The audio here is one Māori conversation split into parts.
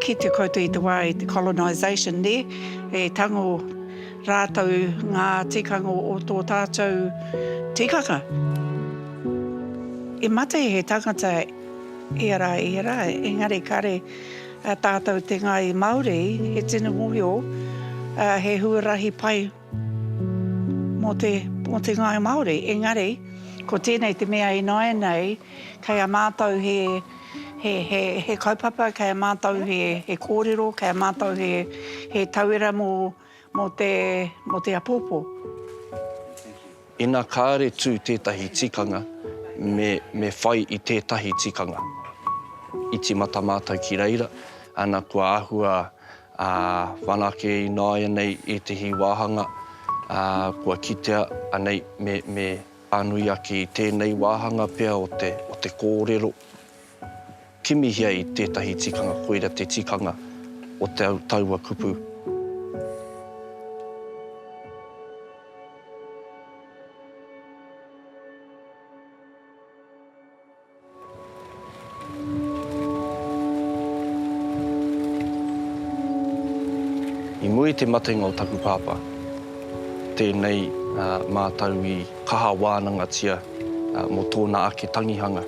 Kitea koutou i te wā i te colonisation nē, e tango rātou ngā tikanga o tō tātou tikanga. I mate he tangata ia rā, ia rā, engari kāre A tātou te Ngāi Māori, he tino mohio, he huarahi pai mō te, mō te Ngāi Māori. Engari, ko tēnei te mea ināianei, kei a mātou he, he, he, he kaupapa, kei a mātou he, he kōrero, kei a mātou he, he tauira mō, mō te, mō te apōpō. Ina kāre tū tētahi tikanga, me, me whai i tētahi tikanga. I tīmata mātou ki reira, ana kua āhua ā, whanake ināianei ētahi wāhanga, ā, kua kitea anei me, me pānui ake i tēnei wāhanga pea o te, o te kōrero. Kimihia i tētahi tikanga koira te tikanga o te au taua kupu. I muri te matenga o taku pāpā, tēnei mātau i. kaha wānangatia mō tōna ake tangihanga.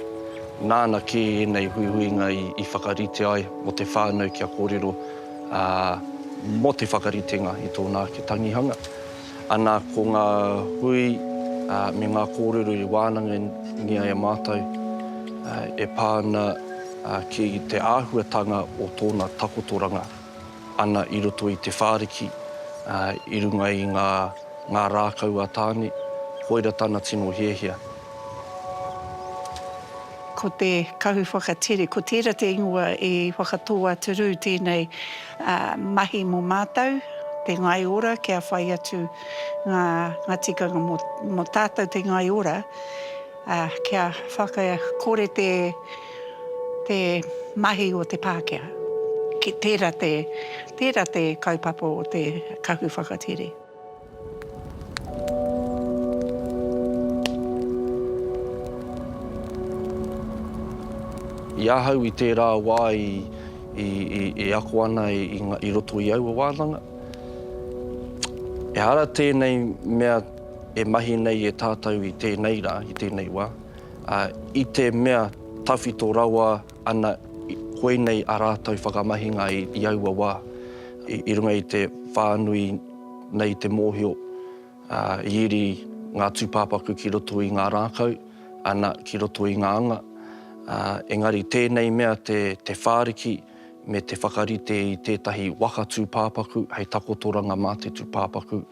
Nāna kē ēnei huihuinga i whakarite ai mō te whānau kia kōrero mō te whakaritenga i tōna ake tangihanga. Ana ko ngā hui me ngā kōrero i wānangia e mātou e pā ana ki te āhuatanga o tōna takotoranga. ana i roto i te whāriki, ā, i runga i ngā, ngā rākau a Tāne, koira tana tino hiahia. Ko te kahu whakatere, ko tērā te ingoa i whakatō a Turū tēnei mahi mō mātou, te ngai ora kia whai atu ngā, ngā tikanga mō, mō tātou te ngai ora, ā, kia whakakore te. te mahi o te Pākehā. Tērā te, tērā te kaupapa o te kahu whakatere. I ahau i tērā wā i, i, i, e ako ana i, i, i roto i aua wānanga, ehara tēnei mea e mahi nei e tātou i tēnei rā, i tēnei wā, Ā, i te mea tawhito rawa ana koinei ā rātou whakamahinga i aua wā, i runga i te whānui nei te mōhio, ā, i iri ngā tūpāpaku ki roto i ngā rākau, ana, ki roto i ngā anga, ā, engari tēnei mea te whāriki me te whakarite i tētahi waka tūpāpaku hei takotoranga mā te tūpāpaku,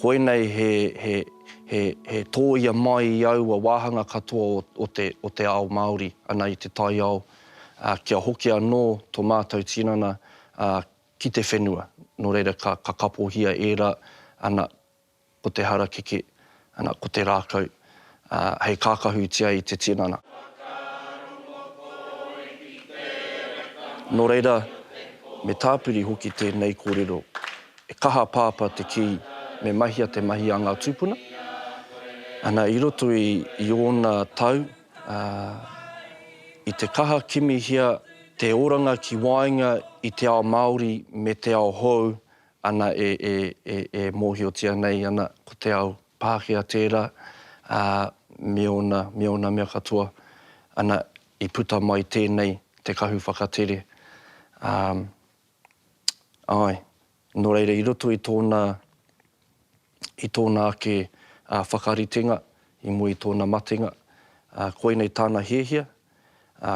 koinei he. He tōia mai i aua wāhanga katoa o te ao Māori ana i te taiao kia hoki anō tō mātou tinana ki te whenua. Nō reira ka kapohia ērā ana ko te harakeke, ana ko te rākau hei kākahutia i te tinana. Nō reira, me tāpiri hoki tēnei kōrero. E kaha a Pāpā te kī me mahia te mahi a ngā tūpuna. Ana, i roto i ōna tau, ā, i te kaha kimihia te oranga ki waenga i te ao Māori me te ao hou, ana, e, e, e, e mōhiotia nei ana ko te ao Pākehā tērā, ā, me ōna, me ōna mea katoa, ana, i puta mai tēnei te kahu whakatere, ā. Āe. Nō reira, i roto i tōna, i tōna ake whakaritenga i mua i tōna matenga, koinei tāna hiahia,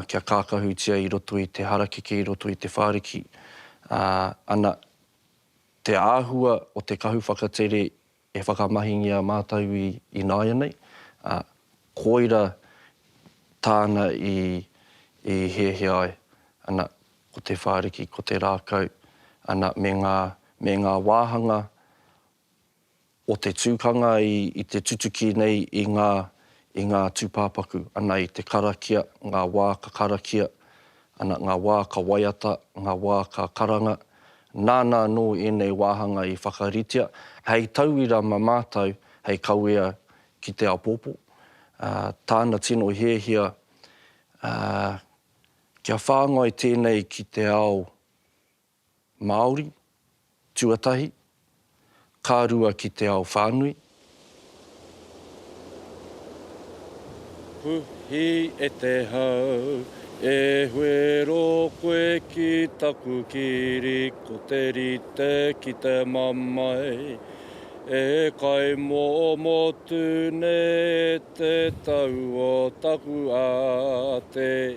kia kākahutia i roto i te harakeke, i roto i te whāriki, ana, te āhua o te kahu whakatere E whakamahingia mātou i ināianei, ā, koira tāna i hiahia ai, ana, ko te whāriki, ko te rākau, ana, me ngā, me ngā wāhanga o te tukanga i te tutuki nei i ngā, i ngā tūpāpaku, ana, i te karakia, ngā wā ka karakia, Ana ngā wā ka waiata, ngā wā ka karanga, nāna anō ēnei wāhanga i whakaritea hei tauira mā mātou hei kawea ki te āpōpō, ā, tāna tino hiahia, ā, kia whāngai tēnei ki te ao Māori, tuatahi, ka rua ki te ao whānui. Puhi e te hau, e huero koe ki taku kiri ko te rite ki te mamae E kaimomo tu nei e te tau o taku ate.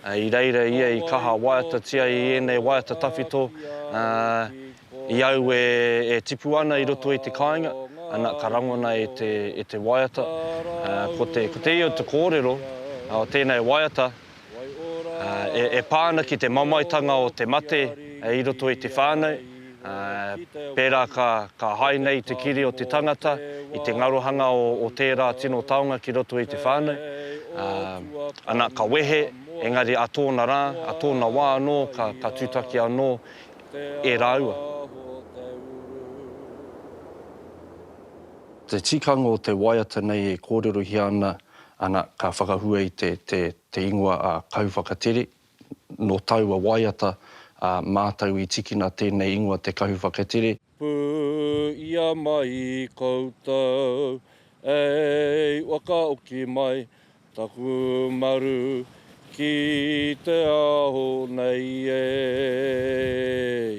I reira ia i kaha waiatatia i ēnei waiata tawhito, ā, i aue e tipu ana i roto i te kāinga, ana, ka rangona e te, e te waiata. Ā, ko te, ko te io te kōrero o tēnei waiata, ā, e, e pā ana ki te mamaetanga o te mate i roto i te whānau, pērā ka hae nei te kiri o te tangata i te ngarohanga o tērā tino taonga ki roto i te whānau, ana, ka wehe, engari ā tōna rā, ā tōna wā anō ka tūtaki anō e rāua. Te tikanga o te waiata nei e kōrerohia ana, ana, ka whakahua i te ingoa a Kauwhakatere, Nō taua waiata a mātou i tikina tēnei ingoa Te Kahu Whakatere. Pū ia mai koutou ei wakaoki mai taku maru ki te ao nei ei.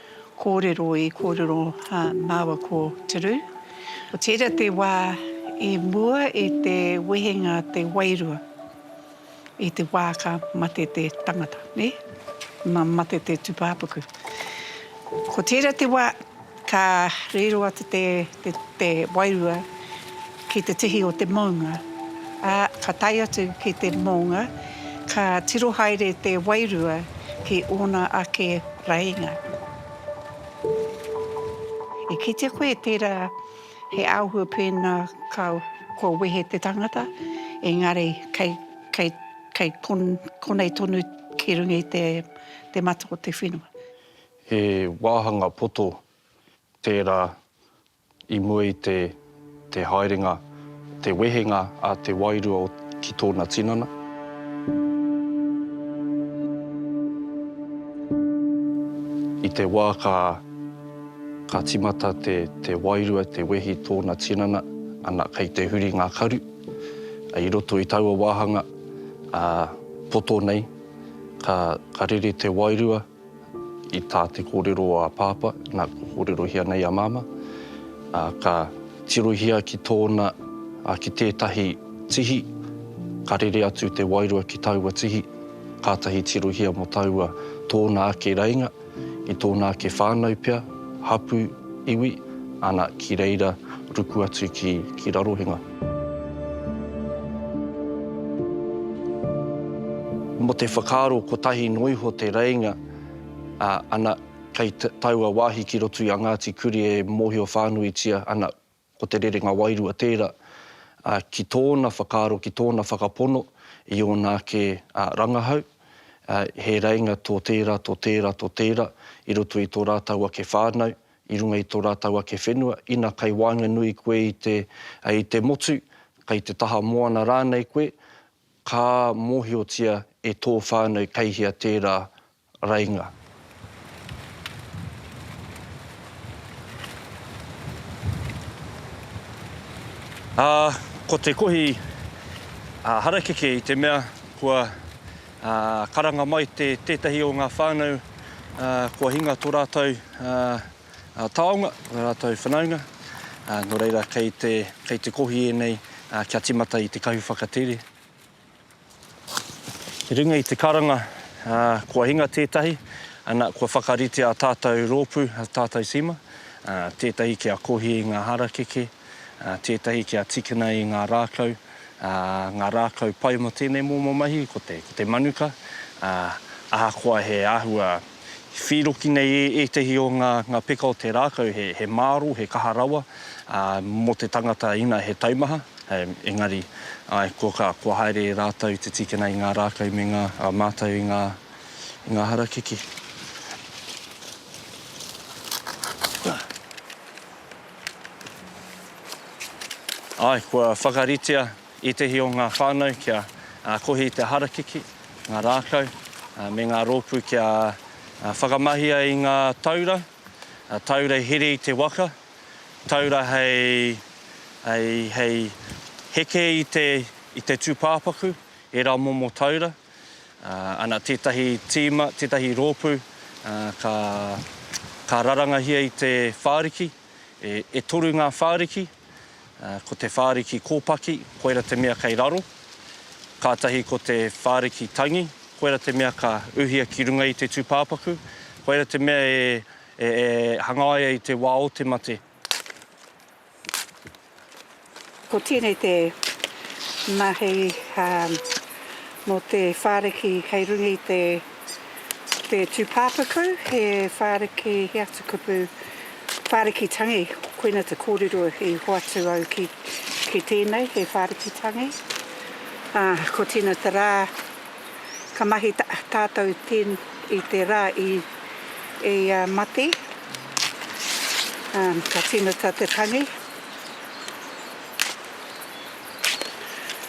Kōrero i kōrero māua ko Te Rū. Ko tērā te wā i mua i te wehenga te wairua i te wā ka mate te tangata, nē? Nā mate te tūpāpaku. Ko tērā te wā ka riro atu te wairua. Ki te tihi o te mounga, ā, ka tae atu ki te moonga, ka tiro haere te wairua ki ōna ake rainga. E kitea koe tērā he āhua pēnā ka, kua wehe te tangata, engari kei, kei, kei kon, konei tonu ki runga i te, te mata o te whenua. He wāhanga poto tērā I mua i te, te haerenga, te wehenga a te wairua o, ki tōna tinana. I te wā ka, ka timata te, te wairua te wehi tōna tinana, ana, kei te huri ngā karu. I roto i taua wāhanga, ā, poto nei, ka, ka rere te wairua. I tā te kōrero o a Pāpā, nā, kua kōrerohia nei a Māmā, ā, ka tirohia ki tōna, ā, ki tētahi tihi, ka rere atu te wairua ki taua tihi, kātahi tirohia mō taua tōna ake reinga, i tōna ake whānau pea, hapū, iwi, ana, ki reira ruku atu ki, ki Rarohenga. Mo te whakaaro kotahi no iho te reinga, a, ana, kei taua wahi ki roto i a Ngati Kuri e mohio whanuitia ana ko te rerenga wairua tera, a, ki tona whakaaro, ki tona whakapono i ona ake, a, rangahau, a, he reinga to tera, to tera, to tera i roto i to ratou ake whanau, i runga i tō rātou ake whenua, ina kei waenganui koe i te, i te motu, kei te taha moana rānei koe, ka mōhiotia e tō whānau kei hea tērā rainga. Ā, ko te kohi harakeke i te mea kua Karanga mai tētahi o ngā whānau kua hinga tō rātou taonga, ō rātou whanaunga, nō reira kei te kohi ēnei kia tīmata i te kahu whakatere. I runga i te karanga kua hinga tētahi, ana, kua whakaritea ā tātou rōpū, ā tātou tīma, tētahi kia kohi i ngā harakeke, tētahi kia tīkina i ngā rākau, ngā rākau pai mō tēnei momo mahi, ko te, ko te manuka, ā, ahakoa he āhua whīroki nei e ētahi o ngā, ngā peka o te rākau, he, he māro, he kaha rawa, ā, mō te tangata ina he taumaha, engari, āe, kua ka, kua haere rātou te tīkina i ngā rākau me ngā, ā, mātau i ngā, i ngā harakeke. Āe, kua whakaritea ētehi o ngā whānau kia kohi i te harakeke, ngā rākau, me ngā rōpū kia whakamahia i ngā taura, taura i here i te waka, taura hei heke i te tūpāpaku, ērā momo taura. Ana tētahi tīma, tētahi rōpū ka rarangahia i te whāriki, e toru ngā whāriki, ko te whāriki kōpaki, koira te mea kei raro, kātahi ko te whāriki tangi, koira te mea ka uhia ki runga i te tūpāpaku, koira te mea e hangaia i te wā o te mate. Ko tēnei te mahi mō te whāriki kei runga i te tūpāpaku, he whāriki, he atu kupu, whāriki tangi, koina te kōrero i hoatu au ki tēnei, he whāriki tangi. Ko tēnei te rā. Ka mahi tātou i te rā i ia mate, ka tīmata te tangi.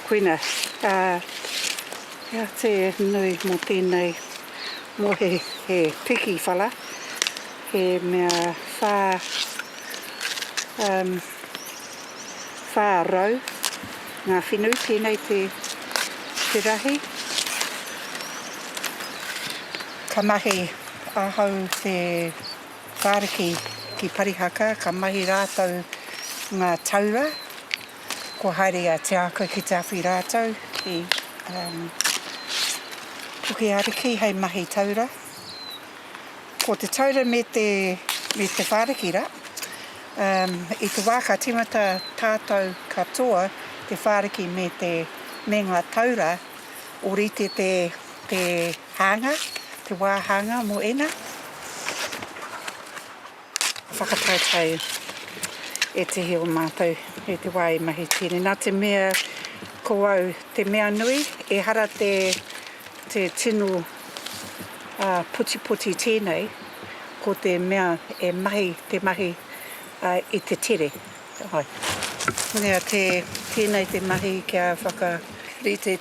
Koina, hea te nui mō tēnei, mō he piki whara, he mea whā. 400 ngā whenu, tēnei te rahi. Ka mahi ahau te whāriki ki Parihaka, ka mahi rātou ngā taura, kua haere a Te Ākau ki te awhi rātou ki Pukeariki hei mahi taura. Ko te taura me te whāriki rā. I te wā ka tīmata tātou katoa, te whāriki me te, me ngā taura, ōrite te, te hānga, te wā hānga mō ēnā whakataetae ētehi o mātou i te wā i mahi tīni. Nā te mea ko au te mea nui, ehara te, Te tino putipoti tēnei, ko te mea e mahi te mahi i te tere. Nea tēnei te mahi kia whakarite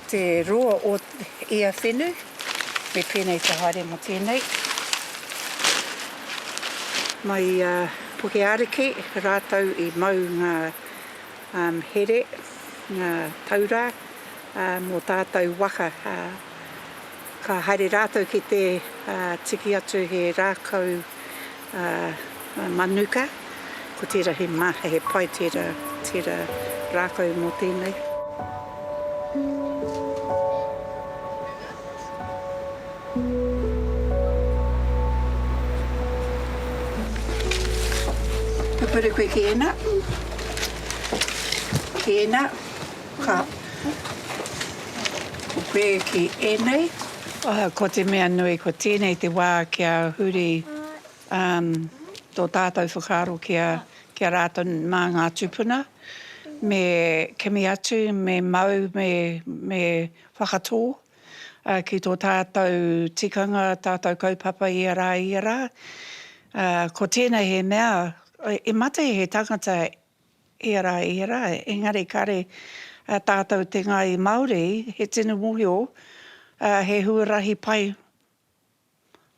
te roa o ia whenu, me pēnei te haere mō tēnei. Mai i a Pukeariki rātou i mau ngā here, ngā taura. mō tātou waka, ka haere rātou ki te tiki atu he rākau manuka, ko tērā he maha, he pai tērā, tērā rākau mō tēnei. Ka puri koe ki ēnā, ki ēnā. Ka puke ki ēnei. Oho, ko te mea nui, ko tēnei te wā kia huri tō tātou whakaaro ki a rātou mā ngā tūpuna, me kimi atu, me mau, me whakatō ki tō tātou tikanga, tātou kaupapa ia rā, ia rā. Ko tēnei he mea, i mate he tangata Ērā, ērā, engari kāre tātou te Ngāi Māori, he tino mōhio, he huarahi pai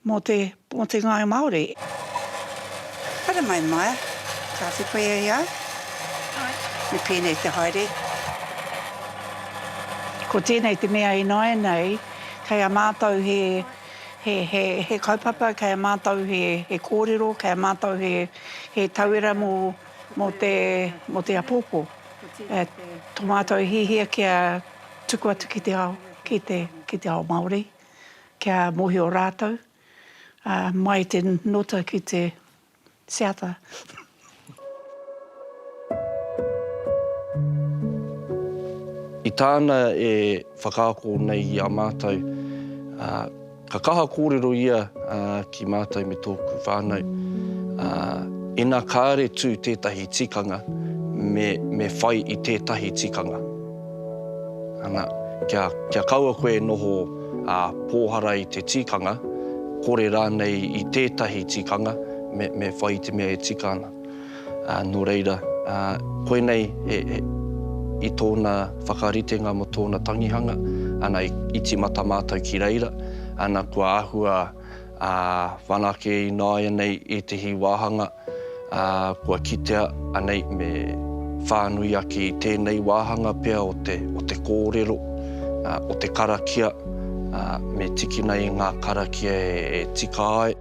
mō te, mō te Ngāi Māori. Haere mai, Maia. Ka whiwhia i a au? Āe. Me pēnei te haere. Ko tēnei te mea ināianei, kei a mātou he, he, he, he kaupapa, kei a mātou he, he kōrero, kei a mātou he, he tauira mō. mō te, mō te apōpō, e, tō mātou hihia kia tuku atu ki te ao, ki te, ki te ao Māori, kia mōhio rātou, ā, mai i te nota ki te seata. I tāna e whakaako nei i a mātou, ā, Ka kaha kōrero ia ki mātou me tōku whānau. Ina kāre tū tētahi tikanga, me whai i tētahi tikanga. Ana, kia kaua koe e noho pōhara i te tikanga, kore rānei i tētahi tikanga, me whai i te mea e tika ana. Nō reira, koinei i tōna whakaritenga mō tōna tangihanga, ana, i tīmata mātou ki reira, ana, kua āhua whanake ināianei ētehi wāhanga, kua kitea anei me whānui ake i tēnei wāhanga pea o te kōrero, o te karakia, me tikina i ngā karakia e tika ai.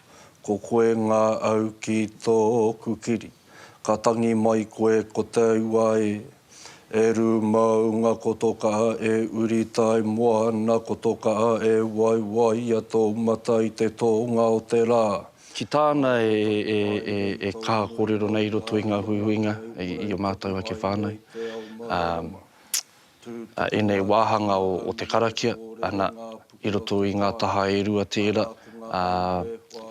Ko koe ngā au ki tōku kiri Ka tangi mai koe ko te ua e E rū maunga ko tō kaha e uri Tai moana ko tō kaha e waiwaia tō mata i te tōnga o te rā. Ki tāna e kaha kōrero nei i roto i ngā huihuinga i ō mātou ake whānau. a ēnei wāhanga o te karakia, ana, i roto i ngā taha e rua tērā, ā,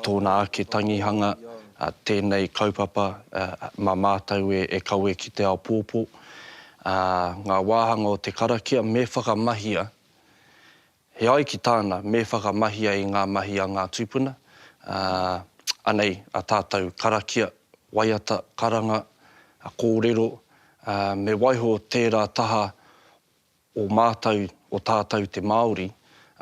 tōna ake tangihanga, ā, tēnei kaupapa, ā, mā mātou e, e kawe ki te ao pōpō. Ā, ngā wāhanga o te karakia, me whakamahia He ai ki tāna, me whakamahia i ngā mahi a ngā tūpuna, ā, anei a tātou karakia, waiata, karanga, kōrero, ā, me waiho tērā taha o mātou, o tātou te Māori,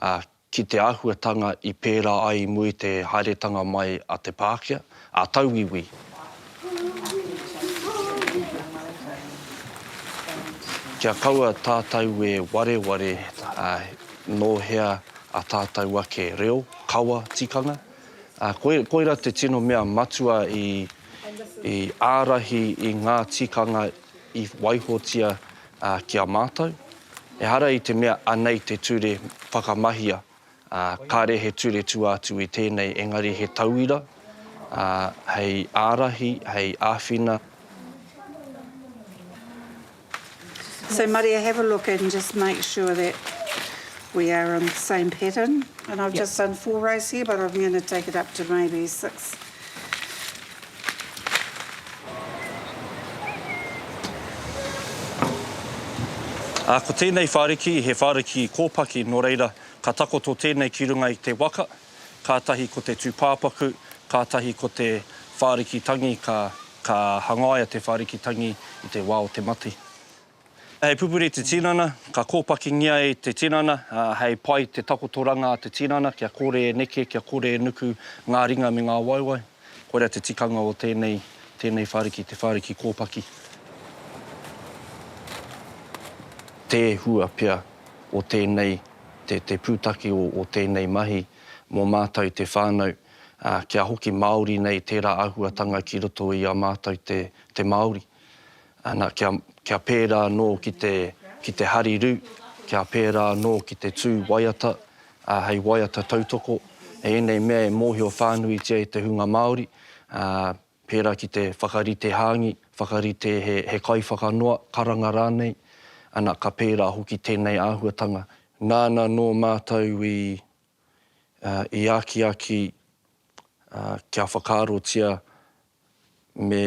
ā, ki te āhuatanga i pērā ai mui te haeretanga mai a te Pākehā. a tauiwi. Kia kaua tātou e wareware nō hea a tātou ake reo, kawa, tikanga, koira te tino mea matua i ārahi i ngā tikanga i waihotia ki a mātou. Ehara i te mea anei te ture whakamahia. ā, kāre he ture tua atu i tēnei engari he tauira, ā, hei ārahi, hei āwhina. So Maria have a look and just make sure that we are on the same pattern and I've just done four rows here but I'm going to take it up to maybe six. Ā, ko tēnei whāriki, he whāriki kōpaki, nō reira, ka takoto tēnei ki runga i te waka, kātahi ko te tūpāpaku, kātahi ko te whāriki tangi, ka, ka hangaia te whāriki tangi i te wā o te mate. Hei pupuri te tinana, ka kōpakingia e te tinana, hei pai te takotoranga a te tinana kia kore e neke, kia kore e nuku ngā ringa me ngā waewae. Koira te tikanga o tēnei, tēnei whāriki, te whāriki kōpaki. Te hua pea o tēnei, te, te pūtake o, o tēnei mahi mō mātou te whānau, ā, kia hoki māori nei tērā āhuatanga ki roto i a mātou te, te Māori. Ana, kia, kia pērā anō ki te, ki te hariru, kia pērā anō ki te tū waiata, ā, hei waiata tautoko, hei ēnei mea e mōhio whānuitia e te hunga Māori, ā, pērā ki te whakarite hāngi, whakarite he, he kaiwhakanoa, karanga rānei, ana, ka pērā hoki tēnei āhuatanga. Nāna nō mātou i, ā, i akiaki, ā, kia whakaarotia me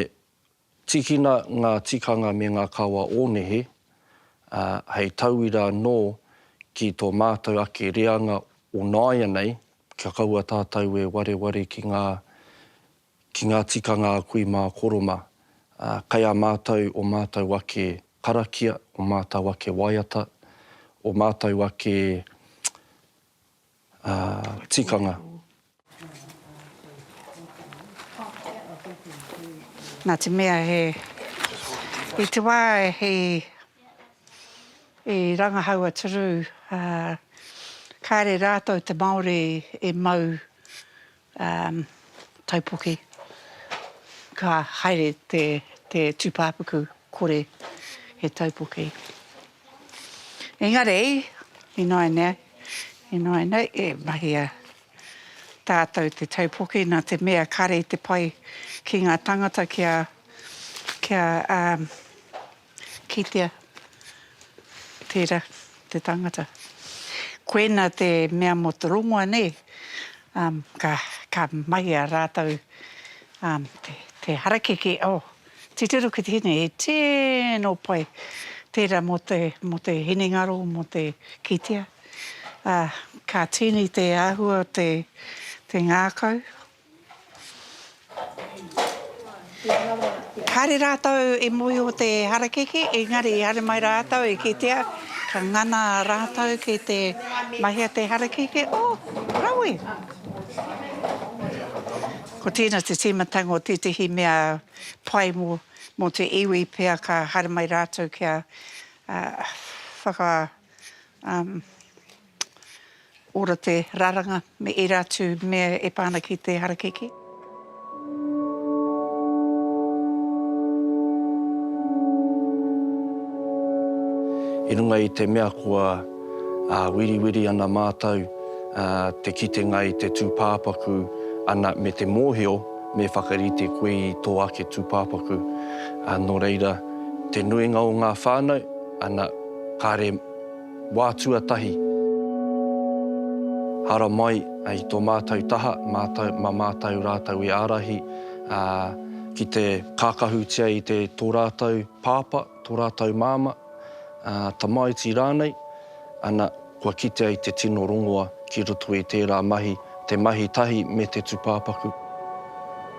Tīkina ngā tikanga me ngā kawa o nehe, ā, hei tauira anō ki tō mātou ake reanga o nāianei, kia kaua tātou e wareware ki ngā, ki ngā tikanga a kui mā Koroma. Ā, kei a mātou ō mātou ake karakia, ō mātou ake waiata, ō mātou ake, tikanga. Na te mea he i te wa he i rangahau a Turu a kare ratou te Maori e mau Um, taupoke. Ka haere te, te tūpāpaku kore he taupoke. Engari, ināinā, ināinā e mahia tātou te taupoke nā te mea kare te pai ki ngā tangata kia, kia um, Kitea, tera te tangata. Koena te mea mo te rongoa ne, um, ka, ka mahia ratou, um, te, te harakeke, oh, titiro ki te hine, he tino pai tera mo te, mo te hinengaro, mo te kitea. Ah, ka tini te ahua o te, te ngakau. Kāre rātou i mōhio te harakeke, engari i haere mai rātou i kitea ka ngana rātou ki te mahia te harakeke, oh, rawe! Ko tēnā te tīmatanga o tētehi mea pai mō te iwi pea ka haere mai rātou kia whaka, um, Ora te raranga me era atu mea e pa ana ki te harakeke. I runga i te mea kua wiriwiri ana mātou te kitenga i te tūpāpaku ana me te mōhio me whakarite koe i tō ake tūpāpaku. Nō reira, te nuinga o ngā whānau, ana, kāre. Wā tuatahi, haramai i tō mātou taha, mā mātou rātou i ārahi ki te kākahutia i tō rātou pāpā, tō rātou māmā, tamaiti rānei, ana, kua kitea i te tino rongoa ki roto i tērā mahi, te mahi tahi me te tūpāpaku.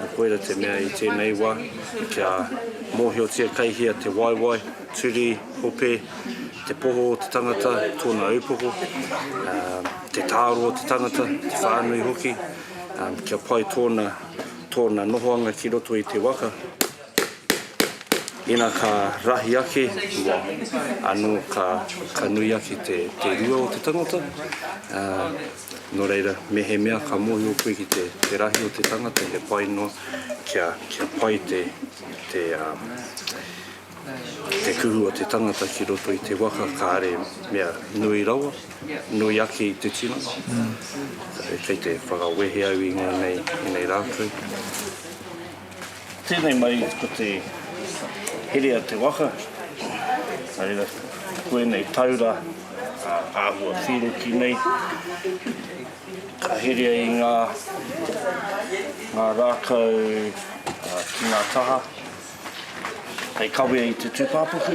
Nā koira te mea i tēnei wā kia mōhiotia kei hea te waewae, turi, hope, te poho o te tangata, tōna ūpoko, te tāro o te tangata, te whānui hoki, kia pai tōna nohoanga ki roto i te waka. Ina ka rahi ake te wa, ano ka ka nui ake te te rua o te tangata, a, no reira, mehemea ka mohio koe ki te te rahi o te tangata he pai noa kia kia pai te te a te kuhu o te tangata ki roto i te waka kare mea nui rawa, nui ake i te tino. Kei te whakawehe au i ngonei i nei ratou. Tēnei mai ko te here a te waka, nā reira ko ēnei taura āhua whīroki nei, ka herea i ngā rākau ki ngā taha hei kawea i te tūpāpaku.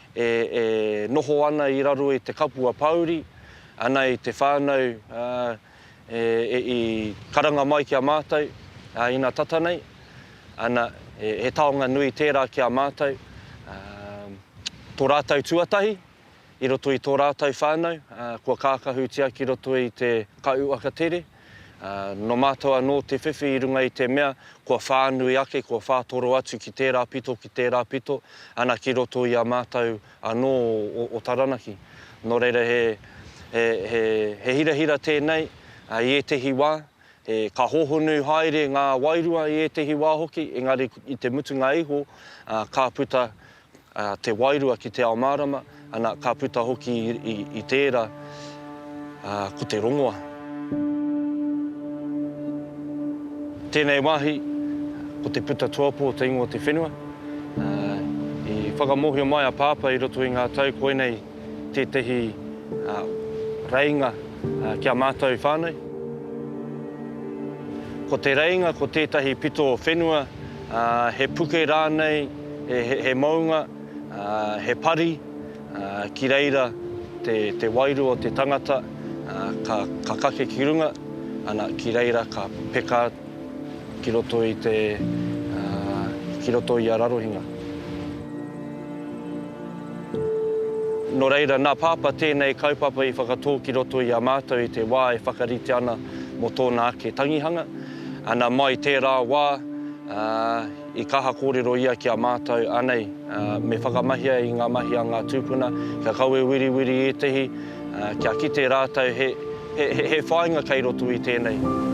e noho ana i raro i te kapua pāuri, ana i te whānau i karanga mai ki a mātou ina tata nei, ana, he taonga nui tērā ki a mātou, tō rātou tuatahi i roto i tō rātou whānau kua kākahutia ki roto i te Kai Uaka Tere. Nō mātou anō te whiwhi i runga i te mea, kua whānui ake, kua whātoro atu ki tērā pito, ki tērā pito, ana ki roto i a mātou anō o Taranaki. Nō reira, he hirahira tēnei i ētehi wā, ka hōhonu haere ngā wairua i ētehi wā hoki, engari i te mutunga iho, ka puta te wairua ki te ao mārama, ana, ka puta hoki i tērā ko te rongoa. Tēnei wāhi, ko te puta tuapo o te ingoa o te whenua. I whakamōhio mai a Pāpā i roto i ngā tau koinei tētehi reinga ki a mātou whānau. Ko te reinga ko tētahi pito whenua, He puke rānei, he mounga, he pari, ki reira te wairua o te tangata ka kake ki runga, ana, ki reira ka peka ki roto i te, ki roto i a Rarohinga. Nō reira, nā Pāpā tēnei kaupapa i whakatō ki roto i a mātou i te wā e whakaritea ana mō tōna ake tangihanga. Ana mai tērā wā, i kaha kōrero ia ki a mātou, anei, me whakamahia i ngā mahi a ngā tūpuna, kia kawe wiriwiri ētehi, kia kite rātou he whāinga kei roto i tēnei.